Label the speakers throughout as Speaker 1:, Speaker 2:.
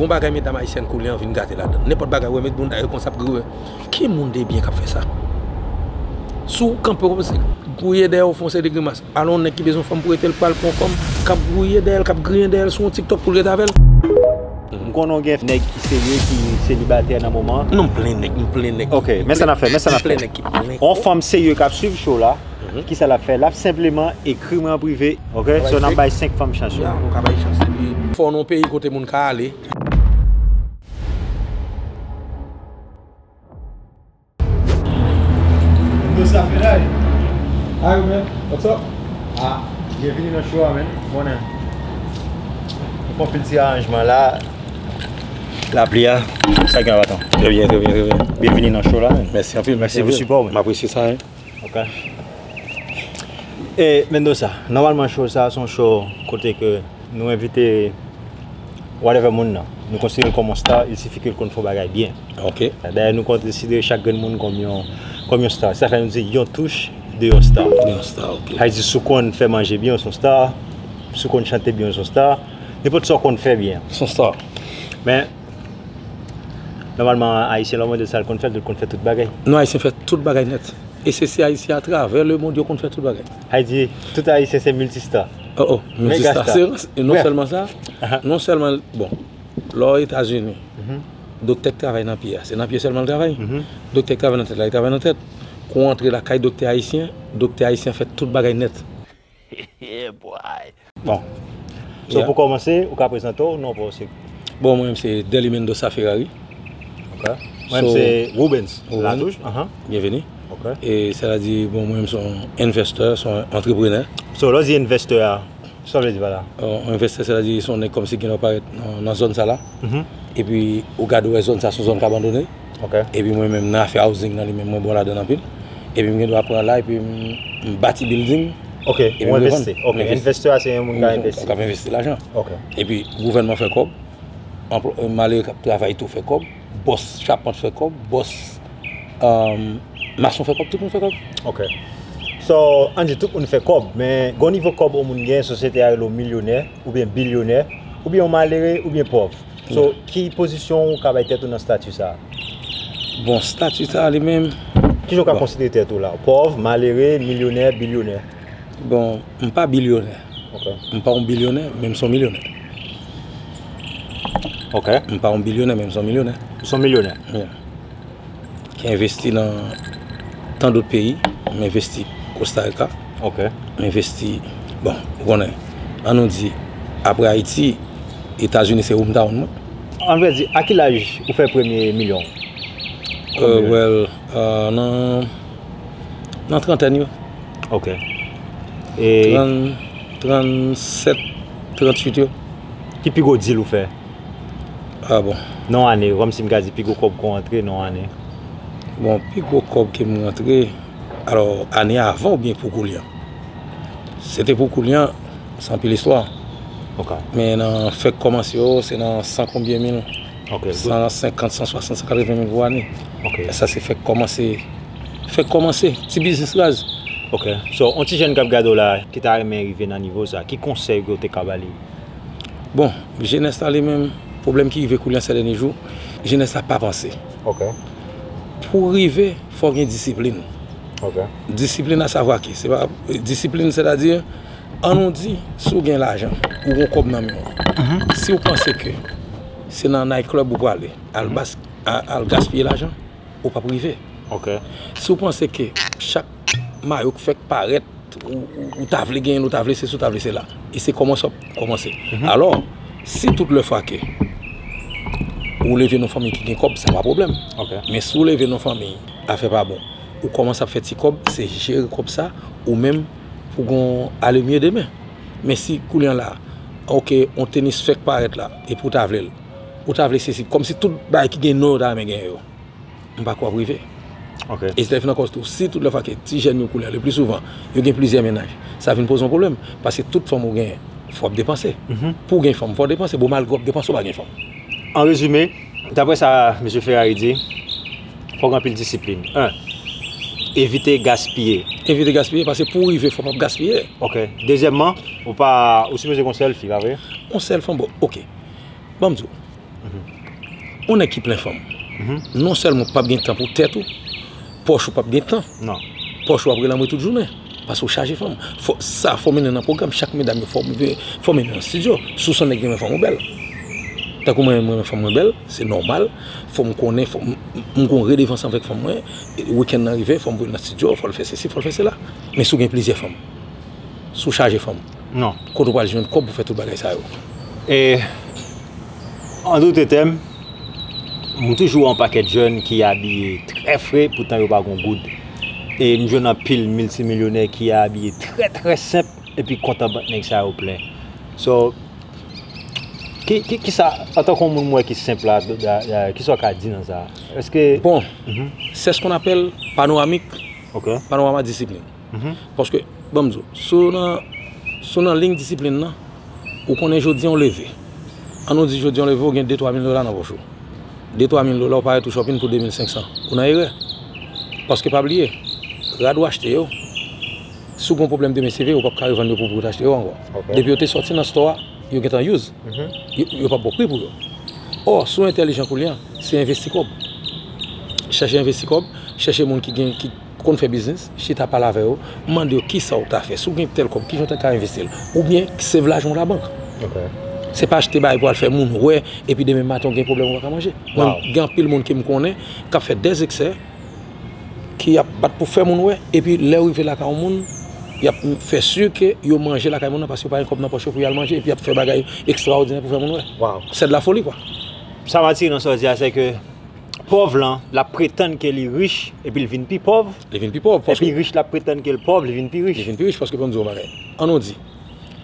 Speaker 1: Gon bagay medam ayisyèn koulè an vin gate ladann. Nenpòt bagay ou wè met bounda yo konsa pgri wè. Ki moun debyen kap fè sa? Si w kanpe w se gouye dèyè w fè yon seri de grimas. Alon yon nèg ki bezwen fanm pou rete l pral pran yon fanm kap gouye dèyè l, kap griyen dèyè l sou yon tiktok pou l rete avè l. M
Speaker 2: konnen w gen nèg ki serye ki selibatè nan moman an. Non m plen nèg, m plen
Speaker 1: nèg. Ok, men sa nap fè, men
Speaker 2: sa nap fè. Yon fanm serye kap swiv show la, kisa lap fè? Lap senpleman ekri mwen an prive. Ok so nap bay 5 fanm chans yo. Ya nou ka bay chans epi.
Speaker 1: Fò nou peyi kote moun ka ale.
Speaker 3: Yo sa feray. Hi man what's up. Ah
Speaker 2: byenvini nan show a man monnen. Nou fon pil ti aranjman la. Lapli a sa gen baton. Trè byen trè byen trè byen.
Speaker 1: Byenvini nan
Speaker 2: show la man. Mèsi anpil mèsi pou
Speaker 1: sipò ou. M apresye
Speaker 2: sa. E Mendoza, nòmalman show sa son show kote ke nou envite whatever moun nan. Nou konsidere l kòm yon star, il sifi ke l konn fè yon bagay byen. Ok. Dayè nou
Speaker 1: konsidere
Speaker 2: chak grenn moun kòm yon star. Se sa fè nou di yon touch de yon star. De yon star, ok. Sa vle di si
Speaker 1: w konn fè
Speaker 2: manje byen ou son star, si w konn chante byen ou son star, nenpòt sa w konn fè byen. Son star.
Speaker 1: Men.
Speaker 2: Nòmalman Ayisyen lè w mande l sa l konn fè, l di l konn fè tout bagay. Non, Ayisyen fè tout
Speaker 1: bagay nèt. E se si Ayisyen atravè lemond yo konn fè tout bagay. Ay di, tout
Speaker 2: Ayisyen se miltista. Oh oh,
Speaker 1: miltista. Se non sèlman sa, non sèlman, bon, lè w Etazini, doktè k travay nan pye a, se nan pye sèlman l travay? Doktè k travay nan tèt la, li travay nan tèt. Kou w antre lakay doktè Ayisyen, doktè Ayisyen fè tout bagay nèt. Yeah boy.
Speaker 2: Bon. So pou kòmanse, ou ka prezante w, non pa w se? Bon mwen menm se
Speaker 1: Delly Mendoza Ferrari. Ok.
Speaker 2: Mwen menm se Rubens Latouche. Aha. Byenveni.
Speaker 1: Ok. E
Speaker 2: sa vle di
Speaker 1: bon mwen menm se yon investor, se yon antreprenè. So lè w di investor
Speaker 2: a, sa w vle di pa la? Yon investor sa vle di
Speaker 1: se yon nèg kòmsi gen lè w parèt nan zòn sa la. Epi ou gade ou wè zòn sa se yon zòn ki abandone. epi mwen
Speaker 2: menm nan afè
Speaker 1: housing nan li menm mwen bon ladann anpil epi m gen dwa pran la epi m bati bilding ok ou envesti
Speaker 2: ok envestè a se yon moun ka envesti ka envesti lajan ok
Speaker 1: epi
Speaker 2: gouvènman
Speaker 1: fè kòb anplwa malere kap travay tou fè kòb bòs chapant fè kòb bòs emm mason fè kòb tout moun fè kòb ok
Speaker 2: so an di tout moun fè kòb men gon nivo kòb yon moun gen sosyete a rele w milyonè oubyen bilyonè oubyen yon malere oubyen pòv So, ki pozisyon ou ka bay tèt ou nan stati sa a? Bon,
Speaker 1: stati sa a li menm. Ki jan ou ka konsidere
Speaker 2: tèt ou la? Pòv, malere, milyonè, bilyonè? Bon,
Speaker 1: m pa bilyonè. Ok. M pa yon
Speaker 2: bilyonè,
Speaker 1: men m son milyonè.
Speaker 2: Ok. M pa yon bilyonè,
Speaker 1: men m son milyonè. Ou son milyonè? Wi. ki envesti nan tan dot peyi, m envesti Costa Rica, m
Speaker 2: envesti,
Speaker 1: bon, ou konnen, an nou di, apre Ayiti, Etazini se home town mwen. An vrè di,
Speaker 2: a ki laj ou fè premye milyon ou? Well,
Speaker 1: nan trantèn yo. Ok.
Speaker 2: Trantèn,
Speaker 1: trantsèt, trantwit yo. Ki pi gwo
Speaker 2: deal ou fè Ah
Speaker 1: bon. Non ane, kom si m ka
Speaker 2: di pi gwo kob ke w rantre non ane. Bon, pi
Speaker 1: gwo kob ke m rantre, alo ane avan oubyen pou koulye an? Se te pou koulye an, se anpil istwa. Ok.
Speaker 2: Men nan
Speaker 1: fè k komanse yo, se nan san konbyen mil, san senkant, san
Speaker 2: swasant,
Speaker 1: san katrevyen mil pou ane. Ok. E sa se fè
Speaker 2: k komanse,
Speaker 1: fè k komanse, ti biznis raz. Ok. So,
Speaker 2: yon ti jèn k ap gade w la, ki ta renmen rive nan nivo sa, ki konsèy ke w te ka ba li? Bon,
Speaker 1: jenès la li menm, pwoblèm ki rive koulye an sè dènye jou, jenès la pa vanse. Ok.
Speaker 2: Pou
Speaker 1: rive, fò gen disiplin. Ok.
Speaker 2: Disiplin a
Speaker 1: savwa ke, se pa, disiplin sè ta di, an nou di, si w gen lajan, ou gen kòb nan men w, si w panse ke se nan night club ou prale, al gaspiye lajan, ou pap rive. Ok.
Speaker 2: Si w panse
Speaker 1: ke chak. Mayo k fèk parèt, ou ta vle genyen l, ou ta vle sesi, ou ta vle sela. E se kòman sa w kòmanse. Alò, si tout lè fwa ke ou leve nan fanmi ki gen kòb, sa pa pwoblèm. Men si ou leve
Speaker 2: nan fanmi,
Speaker 1: afè pa bon, ou kòmanse ap fè ti kòb, se jere kòb sa, ou menm, pou gen yon alemye demen. Men si koulye an la, ok, yon tenis fèk parèt la, epi ou ta vle l, ou ta vle sesi, kòmsi tout bagay ki gen non yo ta renmen genyen yo. M pa kwè w ap rive. E si sa vin
Speaker 2: nan kòs tou,
Speaker 1: si tout lè fwa ke ti jèn yo koulè, le pli souvan, yo gen plizyè mennaj, sa vin poze yon pwoblèm. Paske tout fanm ou genyen, fò w ap depanse. Pou w gen fanm, fò w depanse. Bon, malgre w ap depanse, w pa gen fanm. An rezime,
Speaker 2: dapre sa Mesye Ferrari di, fò w gen anpil disiplin. 1, Evite gaspiye. Evite gaspiye, paske
Speaker 1: pou w rive, fò w pa ap gaspiye. Ok. Dezyèmman,
Speaker 2: ou pa, ou sipoze gen yon sèl fi, pa vre? Yon sèl fanm, bon, ok.
Speaker 1: Ban m di w. Yon nèg ki plen fanm, non sèlman ou pap gen tan pou tèt ou, pòch ou pap gen tan. Non. Pòch ou
Speaker 2: ap relanbre
Speaker 1: tout jounen. Paske ou chaje fanm. Fò, sa fò mennen nan pwogram. Chak medam yo fò, fò mennen nan studio. Si w son nèg renmen fanm ou bèl. Tankou mwen menm mwen renmen fanm mwen bèl. Se nòmal. Fò m konnen, fò m, m gon redevans anvèk fanm mwen. Wikenn nan rive, fò m voye l nan studio, fò l fè sesi, fò l fè sela. Men si w gen plizyè fanm. Si w chaje fanm. Non. Kote ou pral
Speaker 2: jwenn kòb pou
Speaker 1: fè tout bagay sa yo? E,
Speaker 2: an doute tèm, m toujou wè yon pakèt jèn ki abiye trè fre poutan yo pa gon goud. E m jwenn anpil miltimilyonè ki abiye trè trè senp epi kont an bank nèg sa yo plen. So, ki, ki, ki sa, an tan kon moun m wè ki senp la, ki sa ou ka di nan sa? Èske. Bon,
Speaker 1: sè s kon apèl panoramik, panorama disiplin. Paske, ban m di w, si w nan, si w nan liy disiplin nan, ou konnen jodi an w leve, an nou di jodi an w leve ou gen 2, 3 mil dola nan pòch ou. 2, 3 mil dola ou parèt ou chòpin pou 2 mil 500. Ou nan erè. Paske pa bliye, rad ou achte yo, si w gen yon pwoblèm demen seve, ou p ap ka revann yo pou pou w te achte yo ankò. Depi yo te sòti nan stò a, yo gen tan use. Yo p ap ba w pri pou yo. Ò, si w entèlijan koulye a, se envesti kòb. Chèche envesti kòb, chèche moun ki gen, ki. Ou konn fè biznis, chita pale avè yo, mande yo kisa ou ta fè, si ou gen tèl kòb kijan ou ta ka envesti l, oubyen save lajan ou labank. Se pa achte bagay pou al fè moun wè epi demen maten ou gen pwoblèm ou pa ka manje. Mwen gen anpil moun kem konnen kap fè dè zeksè ki ap bat pou fè moun wè epi lè yo rive lakay yon moun yap fè si ke yo manje lakay moun nan paske yo pa gen kòb nan pòch yo pou yal manje epi yap fè bagay ekstraòdinè pou fè moun wè. Sè de la foli kwa. Sa m atire nan
Speaker 2: sa w di a sè ke. Pòv lan, l ap pretann ke li rich, epi l vin pi pòv. Li vin pi pòv. Epi
Speaker 1: rich la ap pretann ke
Speaker 2: l pòv, li vin pi rich. Li vin pi rich, paske pou m di w yon
Speaker 1: bagay. An nou di,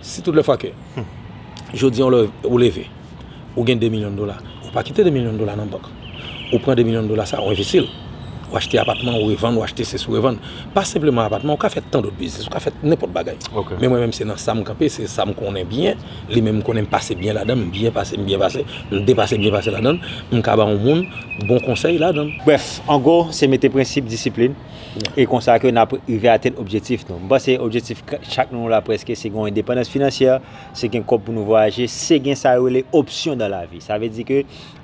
Speaker 1: si tout lè fwa ke, jodi an ou leve, ou gen 2 milyon dola, ou pa kite 2 milyon dola nan bank. Ou pran 2 milyon dola sa a, ou envesti l. Ou achte apatman, ou revann, ou achte sesi, ou revann. Pa senpleman apatman, ou ka fè tandòt biznis, ou ka fè nenpòt bagay. Men mwen menm se nan sa m kanpe, se sa m konnen byen. li menm m konnen m pase byen ladan, m byen pase, m byen pase, m depase, m byen pase ladan, m ka ba yon moun bon konsèy ladan. Brèf, an gwo,
Speaker 2: se mete prensip disiplin, e konsa ke n ap rive atenn objektif nou. M panse objektif chak nan nou la prèske se gen yon endepandans finansyè, se gen kòb pou nou vwayaje, se gen sa yo rele opsyon dan lavi. Sa vle di ke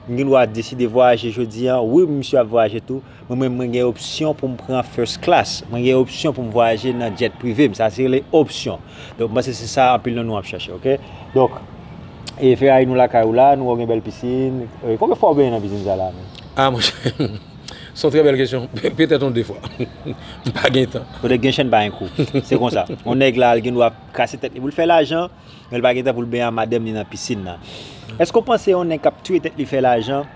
Speaker 2: m gen dwa deside vwayaje jodi an, wi m sye ap vwayaje tou, Mwen menm mwen gen opsyon pou m pran first class, mwen gen opsyon pou m vwayaje nan jet prive m, sa se rele opsyon. Donk m panse se sa anpil nan nou ap chache ok. Donk e Ferrari nou lakay ou la, nou wè w gen bèl pisin, konbyen fwa ou benyen nan pisin sa la menm? Ah monchè,
Speaker 1: s on trè bèl kesyon, petèt on 2 fwa. M pa gen tan. Kote k gen chen pa gen kou.
Speaker 2: Se konsa. On nèg la l gen dwa kase tèt li pou l fè lajan, men l pa gen tan pou l benyen a madanm li nan pisin nan. Èske w panse on nèg k ap touye tèt li fè lajan,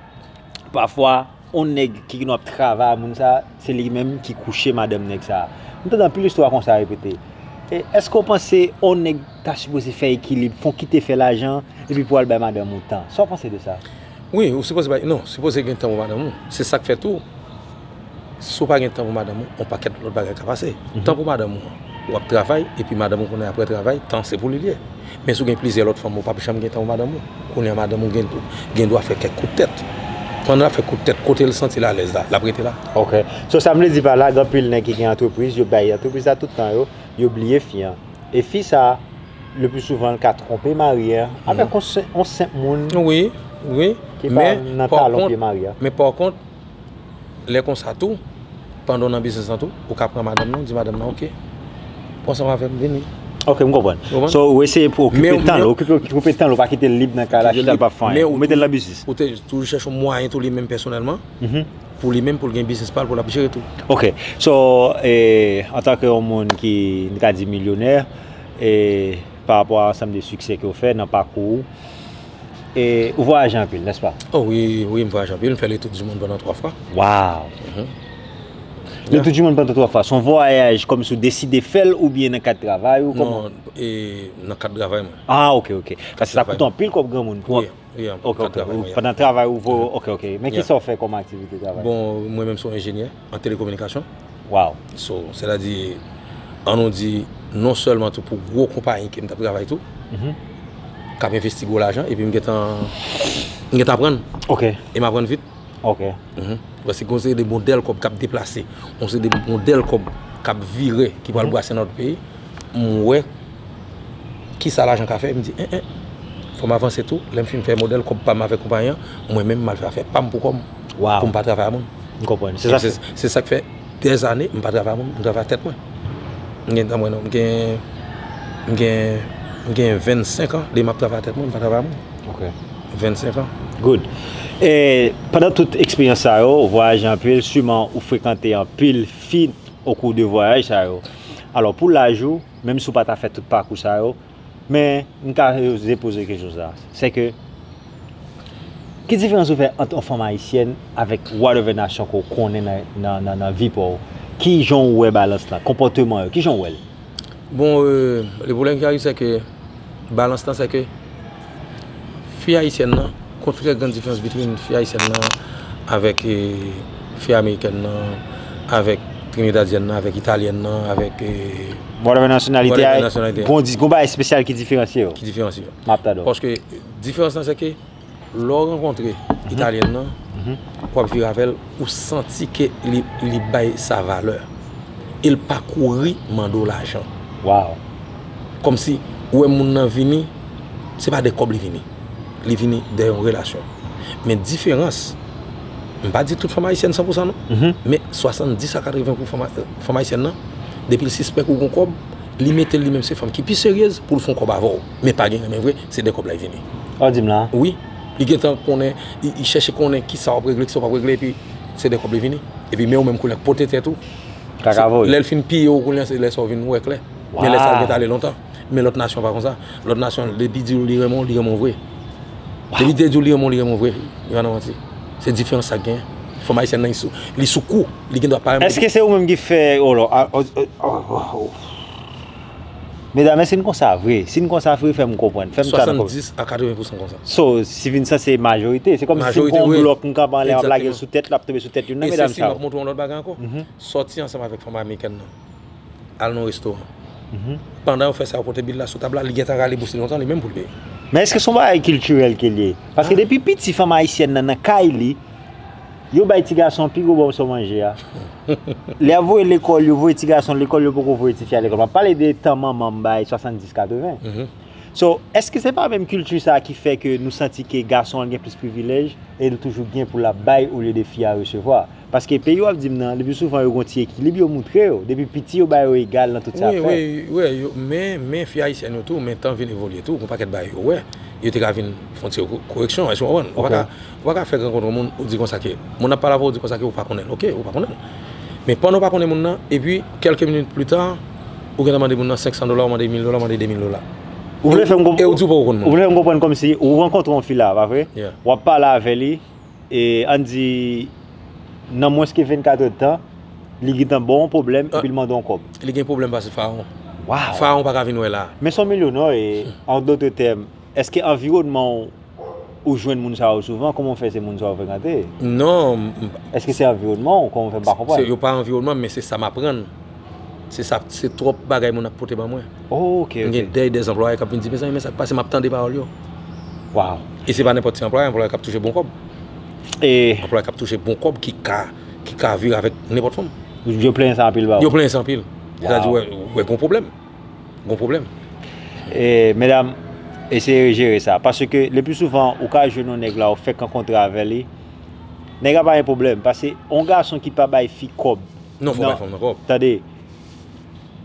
Speaker 2: pafwa On nèg ki gin ap travay a moun sa a, se li menm ki kouche madanm nèg sa a. M tande anpil istwa konsa repete. E, èske w panse on nèg ta sipoze fè ekilib, fon kite fè lajan, epi pou al bay madanm ou tan? Sa w panse de sa? Wi, ou sipoze bay,
Speaker 1: non, sipoze gen tan pou madanm ou. Se sa k fè tou, si w pa gen tan pou madanm ou, on pakèt lòt bagay ka pase. Tan pou madanm ou an. Ou ap travay epi madanm ou konnen aprè travay tan se pou li liye. Men si w gen plizyè lòt fanm ou pap janm gen tan pou madanm ou. Kounye a madanm ou gen dwa fè kèk kout tèt. Pandan l ap fè kout tèt kote l santi l alèz la l ap rete la. Ok. So sa m vle
Speaker 2: di pa la gen anpil nèg ki gen antrepriz yo bay antrepriz la tout tan yo, yo bliye fi an. E fi sa le pli souvan l ka twonpe mari an avèk yon senp moun
Speaker 1: ki pa
Speaker 2: nan talon pye mari an. Men
Speaker 1: pa kont Lè konsa tou, pandan w nan biznis lan tou, ou ka pran madanm nan, ou di madanm nan, ok, ou ansanm avè m, vini. Ok, m konprann.
Speaker 2: Ou konprann? So, ou eseye pou okipe Men, tan l, men- okipe, okipe tan l, ou pa kite l lib nan kay la, chita l pa fè anyen. Ou mete l nan biznis.
Speaker 1: Ou
Speaker 2: te toujou chèche yon
Speaker 1: mwayen tou li menm pèsonèlman, pou li menm, pou l gen biznis pa l, pou l ap jere tou. Ok, so,
Speaker 2: e, antanke yon moun ki, n ka di milyonè, e, parapò a ansanm de siksè ke w fè nan pakou ou, E ou vwayaje anpil, nès pa? O wi,
Speaker 1: wi, m vwayaje anpil. M fè le
Speaker 2: tour du
Speaker 1: monde pandan 3 fwa. Waw! Le
Speaker 2: tour du monde pandan 3 fwa, son vwayaj kòmsi ou deside fè l oubyen nan kad travay ou? Non, e
Speaker 1: nan kad travay mwen. A, ok, ok.
Speaker 2: Paske sa koute anpil kòb granmoun pou. Wi, wi, anpil. Ok,
Speaker 1: ok.
Speaker 2: Pandan travay ou vwayaje. Ok, ok. Men ki sa ou fè kòm aktivite travay? Bon, mwen menm son
Speaker 1: enjenyè. An telekominikasyon. Waw.
Speaker 2: So, se ta di,
Speaker 1: an nou di, non sèlman tou pou gwo konpayi ke m t ap travay tou, k ap envesti gwo lajan, epi m gen tan, m gen tan aprann. Ok. E m aprann
Speaker 2: vit.
Speaker 1: Ok.
Speaker 2: Paske gen yon
Speaker 1: seri de modèl kòb k ap deplase, yon seri de modèl kòb k ap vire, ki pral brase nan lòt peyi. M wè kisa lajan ka fè, m di en en, fò m avanse tou, lè m fin fè modèl kòb pa m avèk konpayi an, mwen menm m al fè afè pa m pou kò m, pou m pa travay a moun. M konprann.
Speaker 2: Se sa k fè
Speaker 1: dèzane m pa travay a moun, m travay ak tèt mwen. M gen tan mwen non, m gen, m gen, m gen vennsenk an depi m ap travay ak tèt mwen, m pa travay a moun. Ok.
Speaker 2: Vennsenk an.
Speaker 1: Good. E,
Speaker 2: pandan tout eksperyans sa yo, ou vwayaje anpil, siman ou frekante anpil fi okou de vwayaj sa yo. Alò pou laj ou, menm si ou pa ta fè tout pakou sa yo, men m ka oze poze kesyon sa, se ke ki diferans ou fè ant yon fanm ayisyèn avèk whatever nasyon ke w konnen nan vi pa w? Ki jan ou wè balans la? Konpòteman yo, ki jan ou wè l? Bon,
Speaker 1: le pwoblèm ki arive se ke balans la se ke. Fi ayisyèn nan, kontrè gran diferans bitwin fi ayisyèn nan avèk fi amerikèn nan, avèk trinidadyèn nan, avèk italyèn nan, avèk. Whatever
Speaker 2: nasyonalite a, gon bagay espesyal ki diferansye yo. Ki diferansye yo. M ap
Speaker 1: tande w. Paske
Speaker 2: diferans
Speaker 1: lan se ke lè w rankontre italyèn nan, w ap vire avè l. Ou santi ke li bay sa valè. E l pa kouri mande w lajan. Waww.
Speaker 2: Kòmsi
Speaker 1: ou wè moun nan vini, se pa de kòb li vini. Li vini de yon relasyon. Men diferans, m pa di tout fanm ayisyèn san pou san non. Men 70 a 80 pou san fanm ayisyèn nan, depi l sispèk ou gen yon kòb, li mete l li menm se fanm ki pi seryez pou l fè yon kòb avè w. Men pa gen renmen vre, se de kòb la y vini. Sa w di m la? Wi.
Speaker 2: Li gentan
Speaker 1: konnen, li chèche konnen ki sa w ap regle, ki sa w pa p regle epi se de kòb li vini. Epi men ou menm koulè pote tèt ou. Kaka voye. Lè l fin piye w koulè se lè sa w vin wè klè. Men lè sa l gentan ale lontan. Men lòt nasyon pa kon sa. Lòt nasyon depi di w li renmen w, li renmen w vre. Depi li te di w li renmen w, li renmen w vre. Li pa nan manti. Se diferans sa k genyen. Fanm ayisyèn nan li sou kou. Li gendwa pa renmen w depi. Èske se ou menm ki fè,
Speaker 2: oh lò, ah, oh, oh, oh, oh. Medam èske n konsa vre? Si n konsa vre fè m konprann. 70 a 80
Speaker 1: pousan konsa. So si vin sa se
Speaker 2: majorite. Se kòm si se yon blòk m kanpe anlè m ap lage l sou tèt l ap tonbe sou tèt youn nan medam sa yo. E sesi m ap montre w yon lòt bagay ankò.
Speaker 1: Sòti ansanm avèk fanm amerikèn nan. Al nan yon restoran. Pandan yo fè sa yo pote bil la sou tab la li gentan rale bous li lontan li menm pou l peye. Men èske se yon bagay
Speaker 2: kiltirèl ke l ye? Paske depi piti fanm ayisyèn nan nan kay li. Yo bay ti gason pi gwo bòmso manje a. Lè yap voye lekòl yo voye ti gason lekòl yo poko voye tifi a lekòl map pale de tan manman m bay 70 80 so èske se pa menm kilti sa ki fè ke nou santi ke gason an gen plis privilèj e li toujou gen pou lap bay olye de fi a resevwa paske peyi wap di m nan le pi souvan yo gen yon ti ekilib yo moutre yo depi piti yo ba yo egal nan tout sa yap fè wi
Speaker 1: men fi ayisyèn yo tou men tan vin evolye tou gen yon pakèt bagay yo wè yo te ka vin fon ti koreksyon èske w konprann Ou pa ka fèk rankontre yon moun ou di konsa ke moun ap pale avèw ou di konsa ke ou pa konnenl ok ou pa konnenl men pandan ou pa konnen moun nan epi kèlke minit pli ta ou gentan mande moun nan 500 dola ou mande mil dola ou mande 2000 dola ou vle fèm
Speaker 2: konprann e ou di ou poko konn moun nan ou vle fèm konprann kòmsi ou rankontre yon fi la pa vre wap pale avè li e ann di nan mwens ke 24 èd tan li gentan baw yon pwoblèm epil mandew kòb li gen pwoblèm pase farawon
Speaker 1: farawon
Speaker 2: paka vin wè la
Speaker 1: men son milyonè e
Speaker 2: an dote tèm Eske anviwònman w ou jwenn moun sa yo souvan? Kòman w fè se moun sa yo frekante? Non, m pa.
Speaker 1: Eske se
Speaker 2: anviwònman w? Kòman w fè m pa konprann? Se yo pa anviwònman m men se
Speaker 1: sa m aprann. Se sa, se twòp bagay moun ap pote ban mwen. O, ok, ok. M gen dèy
Speaker 2: de anplwaye k
Speaker 1: ap vin di, Mezanmi men sa k pase m ap tande pawòl yo. Waw!
Speaker 2: E se pa nenpòt
Speaker 1: ti anplwaye, anplwaye k ap touche bon kòb. E.
Speaker 2: Anplwaye k ap touche bon
Speaker 1: kòb ki ka, ki ka vire avèk nenpòt fanm. Yo plenyen sa anpil
Speaker 2: ba ou? Yo plenyen sa anpil. Yo
Speaker 1: ta di wè, wè gen yon pwoblèm. gon pwoblèm.
Speaker 2: Medam eseye jere sa paske le pli souvan ou ka jwenn yon nèg la ou fèk rankontre avè li nèg la pa gen pwoblèm pase yon gason ki pa bay fi kòb non fò bay fanm nan kòb
Speaker 1: tande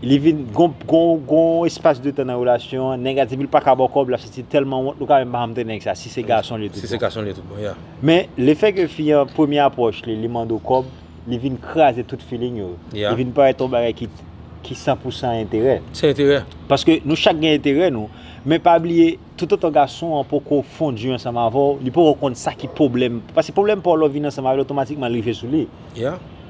Speaker 2: li vin gon espas de tan nan relasyon an nèg la depi l pa ka ba w kòb l ap santi l tèlman wont nou ka menm pa janm tande nèg sa si se gason l ye tout bon
Speaker 1: men le fè ke
Speaker 2: fi an premye apwòch li li mande w kòb. li vin kraze tout feeling yo. Li vin parèt yon bagay ki san pou san enterè. San enterè. Paske
Speaker 1: nou chak gen
Speaker 2: enterè nou, men pa bliye toutotan gason an poko fondi ansanm avè w, li poko konn sa ki pwoblèm, paske pwoblèm pa w lè w vin
Speaker 1: ansanm
Speaker 2: avè l otomatikman li rive sou li.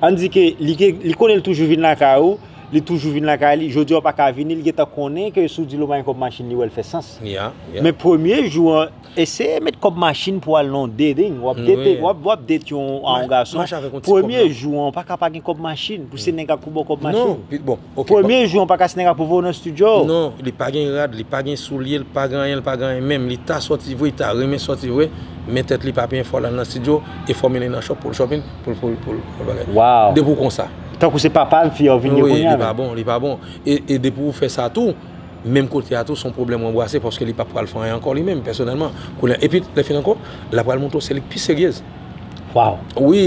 Speaker 2: Ann di ke li konnen li toujou vin lakay ou, li toujou vin lakay li, jodi a w pa ka vini, li gentan konnen ke si w di l ou ba l kòb machin li wè l fè sans. Men premye jou an. Eseye met kob machine pou al nan yon dating wap date wap date yon yon gason premye jou an ou paka pa gen kob machine pou se nèg la ki pou baw kob machine
Speaker 1: premye jou an paka se nèg la
Speaker 2: ki pou voyew nan studio. Non li pa gen rad
Speaker 1: li pa gen soulye li pa gen anyen li pa gen anyen menm li ta soti vre li ta renmen soti vre men tèt li pa byen fòl al nan studio e fò mennen nan shop poul shopping poul poul poul bagay depi ou konsa tankou se papa fi
Speaker 2: an vin ye kounya li pa bon li
Speaker 1: pa bon e depi ou fè sa tou. menm kote a tou son pwoblèm ou anbwase paske li pa pral fè anyen ankò li menm pèsonèlman kounye a epi lè fini ankò la pral montre w se li k pi seryez waw
Speaker 2: wi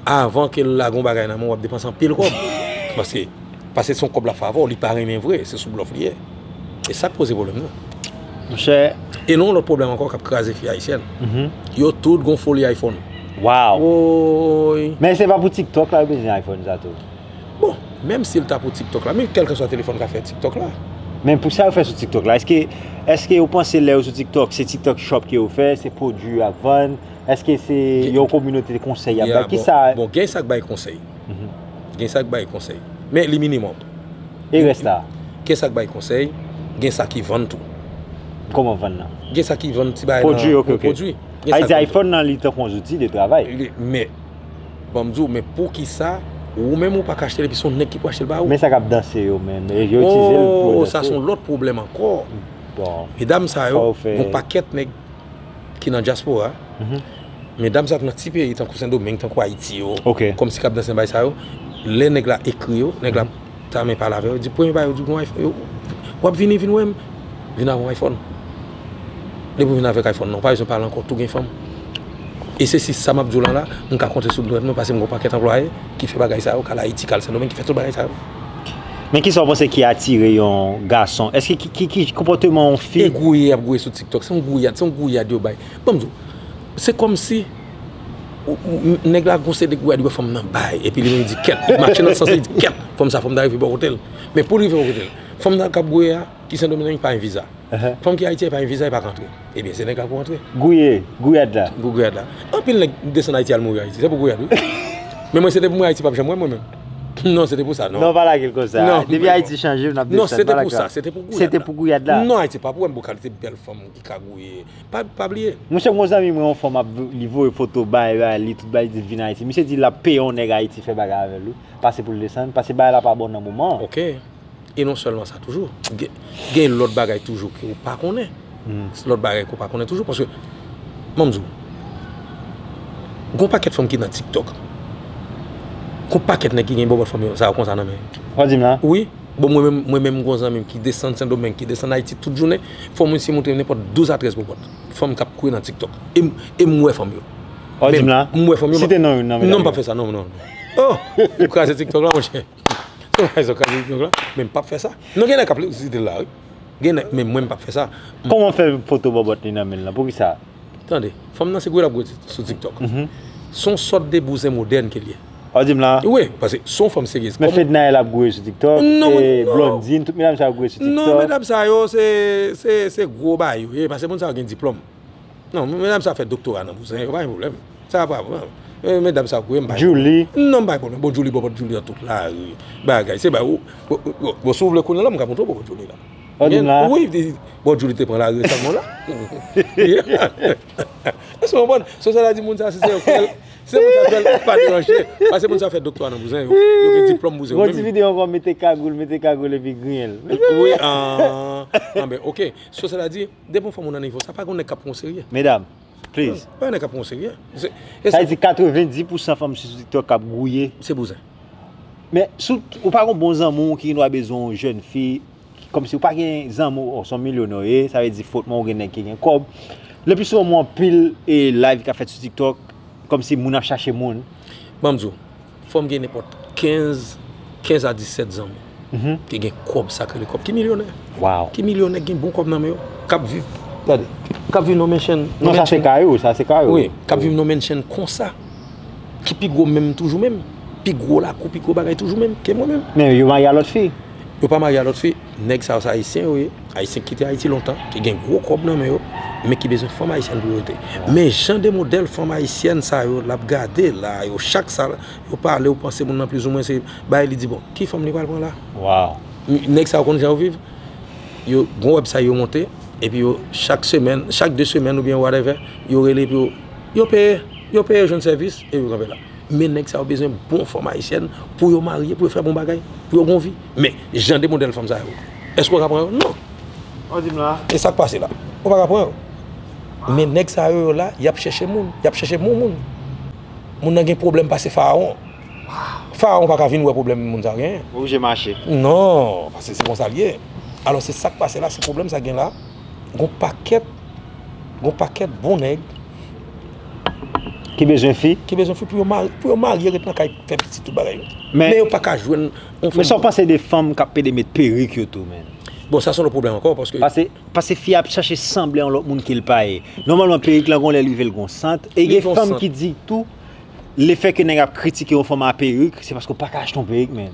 Speaker 1: avan ke l lage yon bagay nan men w wap depanse anpil kòb paske paske son kòb lap fè avè w li pa renmen vre se sou blòf li ye e sak poze pwoblèm nan monchè
Speaker 2: e nou yon lòt pwoblèm
Speaker 1: ankò kap kraze fi ayisyèn yo tout gon foli iphone waw
Speaker 2: ooyy
Speaker 1: men se pa pou
Speaker 2: tiktok la yo bezwen iphone sa tou. Bon, menm
Speaker 1: sil ta pou tiktok la, men kèlkeswa telefòn ka fè tiktok la. Men pou sa yo fè sou
Speaker 2: tiktok la, eske eske yo panse lè yo sou tiktok se tiktok shop ke yo fè, se pwodwi yo ap vann, eske se yon kominote konsèy yap bay, kisa. Ya bon, gen sa k bay konsèy,
Speaker 1: gen sa k bay konsèy, men li minimòm. E rès la?
Speaker 2: Gen sa k bay konsèy,
Speaker 1: gen sa ki vann tou. Kòman vann
Speaker 2: nan? Gen sa ki vann ti bagay nan.
Speaker 1: Pwodwi ok ok. Pwodwi.
Speaker 2: Sa vle di iPhone nan li tankou yon zouti de travay. Men.
Speaker 1: Banm diw men poukisa ou menm ou paka achtel epi son nèg ki pou achtel ba ou. Men sa kap danse yo
Speaker 2: menm yo itilizel pou yo danse. Oh
Speaker 1: sa son lòt pwoblèm ankò. Bon. Medam
Speaker 2: sa yo
Speaker 1: gon pakèt nèg ki nan dyaspora. Medam sa yo ki nan ti peyi tankou sendomeng tankou ayiti yo. Ok. Kòmsi kap danse nan bagay sa yo. Lè nèg la ekri yo nèg la Tame pale avè yo, di premye bagay yo di gon iphone, w ap vini vin wè m, vin avè yon iphone. Depi w vin avèk iphone nan, w pa bezwen pale ankò, tou gen fanm. E se si sa m ap di w lan la, m ka konte sou dwèt mwen paske m gen yon pakèt anplwaye ki fè bagay sa yo, k al Ayiti, k al Sendomeng, ki fè tout bagay sa yo. Men kisa
Speaker 2: w panse ki atire yon gason? Eske ki konpòteman yon fi? E gouye y ap gouye sou TikTok,
Speaker 1: se yon gouyad, se yon gouyad yo bay. Ban m di w, se kòmsi. Nèg la gon seri de kouwè li wè fanm nan bay epi li menm li di kèt, li mache nan sans li di kèt fanm sa fòm ta rive bò kote l. Men pou l rive bò kote l, fanm nan kap gouye a ki sendomingue li pa gen viza. Fanm ki ayiti a li pa gen viza li pa ka antre. Ebyen se nèg la pou antre. Gouye, gouyad la.
Speaker 2: Gou gouyad la. Anpil nèg
Speaker 1: desann ayiti al mouri ayiti se pou gouyad wi. Men mwen se te pou mwen ayiti pap janm wè mwen menm. Non se te pou sa non. Non pa lage l konsa.
Speaker 2: Depi ayiti chanje nap desann pa lage l. Non se te pou sa, se te
Speaker 1: pou gouyad la. Se te pou gouyad la. Non
Speaker 2: ayiti pap wè m pou kalite
Speaker 1: bèl fanm ki ka gouye pa bliye. Mwen se gwo zanmi mwen yon
Speaker 2: fwa map li voye foto bay bay li tout bay li di vin ayiti misye di lap peye yon nèg ayiti fè bagay avèl wi pase poul desann pase bagay la pa bon nan moman an. Ok
Speaker 1: e non sèlman sa toujou gen lòt bagay toujou ke ou pa konnen lòt bagay ke ou pa konnen toujou paske m'en di ou gon pakèt fanm ki nan tiktok gon pakèt nèg ki gen bòbòt fanm yo sa yo konsa nan men yo. Wap di m la? Wi.
Speaker 2: Bon mwen menm,
Speaker 1: mwen menm m gon zanmi m ki desann sendomeng, ki desann ayiti tout jounen, fò mwen si montre m nenpòt 12 a 13 popòt fanm kap kouri nan tiktok e m e m wè fanm yo Wap di m la? M
Speaker 2: wè fanm yo Site non youn nan
Speaker 1: medam yo? Non m pap fè
Speaker 2: sa non non
Speaker 1: Oh! Ou kraze tiktok la monchè, se pa fè sa w kraze tiktok la men m pap fè sa, non gen nèg kap site l la wi. Gen nèg menm mwen m pap fè sa. Kòman fè foto
Speaker 2: bòbòt li nan menl lan poukisa. Tande. Fanm
Speaker 1: nan se gwe lap gwe sou tiktok. Son sòt de bouzen modèn kel ye. Wap dim la. Wi
Speaker 2: paske son fanm
Speaker 1: seryez. Men fednaelle ap gwe sou
Speaker 2: tiktok e blondine tout medam sa yo ap gwe sou tiktok. Non medam sa yo
Speaker 1: se gwo bagay yo ye paske moun sa yo gen diplòm. Non medam sa fè doktora nan bouzen yo pa gen problèm sa pa pran medam sa gouye m bay Djoulie non m bay
Speaker 2: problèm bon Djoulie
Speaker 1: bòbòt Djoulie nan tout lari bagay se bay bon si w vle konnen la m ka montre w bòbòt Djoulie la an di m la wi
Speaker 2: bòbòt Djoulie
Speaker 1: te pran lari resamman la èske w konprann se sa l ap di moun sa si se yo k fè l se moun sa k fè l pa deranje pase moun sa fè doktora nan bouzen yo yo gen diplòm bouzen yo menm yon ti videyo ankò mete
Speaker 2: kagoul mete kagoul epi griyen l wi an an
Speaker 1: an ben ok se sa l ap di Depi yon fanm ou nan nivo sa pa gen yon nèg kap pran w serye. Medam
Speaker 2: please. Pa gen nèg kap pran w serye.
Speaker 1: Sa vle di
Speaker 2: 90 pou 100 fanm sou tiktok kap gouye. Se bouzen.
Speaker 1: Men
Speaker 2: sou ou pa gon bon zanmi w ki gen dwa bezwen yon jèn fi kòmsi ou pa gen zanmi w son milyonè w ye sa vle di fot mwen ou gen nèg ki gen kòb. Le pli souvan m wè anpil live kap fèt sou tiktok kòmsi moun ap chache moun. Banm di w.
Speaker 1: Fòm gen nenpòt 15 15 a 17 zan ki gen kòb sak rele kòb ki milyonè waw ki milyonè
Speaker 2: ki gen bon kòb
Speaker 1: nan men yo kap viv tande kap viv nan menchèn nan sa se ka yo sa
Speaker 2: se ka yo wi kap viv nan menchèn
Speaker 1: konsa ki pi gwo menm toujou menm pi gwo lakou pi gwo bagay toujou menm ke mwen menm men yo marye a lòt fi
Speaker 2: Yo pa marye a lòt
Speaker 1: fi. Nèg sa yo se Ayisyen yo ye. Ayisyen ki kite Ayiti lontan, ki gen gwo kòb nan men yo, men ki bezwen fanm Ayisyèn pou yo rete. Men jan de modèl fanm Ayisyèn sa yo l ap gade la a yo, chak sa yo pale ou panse moun nan plizoumwen se bay li di bon. Ki fanm li pral pran la a?
Speaker 2: Nèg sa yo konn jan yo
Speaker 1: viv. Yo gon wèbsay yo monte epi yo chak semèn, chak de semèn oubyen whatèvè yo rele epi yo peye. Yo peye jwenn sèvis epi yo kanpe la. Men nèg sa yo bezwen bon fanm ayisyèn pou yo marye, pou yo fè bon bagay, pou yo gon vi. Men, jan de modèl fanm sa yo, èske w ka pran yo? Non!
Speaker 2: E sa k pase la?
Speaker 1: Ou pa ka pran yo. Men nèg sa yo yo la, y ap chèche moun, y ap chèche bon moun. Moun nan gen pwoblèm pase farawon. Farawon pa ka vin wè pwoblèm moun sa yo genyen. Ou oblije mache.
Speaker 2: Non! Pase
Speaker 1: se konsa l ye. Alò se sa k pase la, se pwoblèm sa k gen la. Gon pakèt, gon pakèt bon nèg. Ki
Speaker 2: bezwen fi? Ki bezwen fi pou yo marye, pou yo
Speaker 1: marye ret nan kay fè pitit tout bagay yo. Men yo paka jwenn yon fanm. Men sa w panse de
Speaker 2: fanm kap pede met perik yo tou menn? Bon sa se yon lòt pwoblèm
Speaker 1: ankò paske. Pase, pase fi a ap
Speaker 2: chache sanble yon lòt moun ke l pa ye. Nòmalman perik lan gen yon lè li rive l gen yon sant. E gen fanm ki di tou, lefè ke nèg ap kritike yon fanm a perik, se paske w paka achte yon perik menn.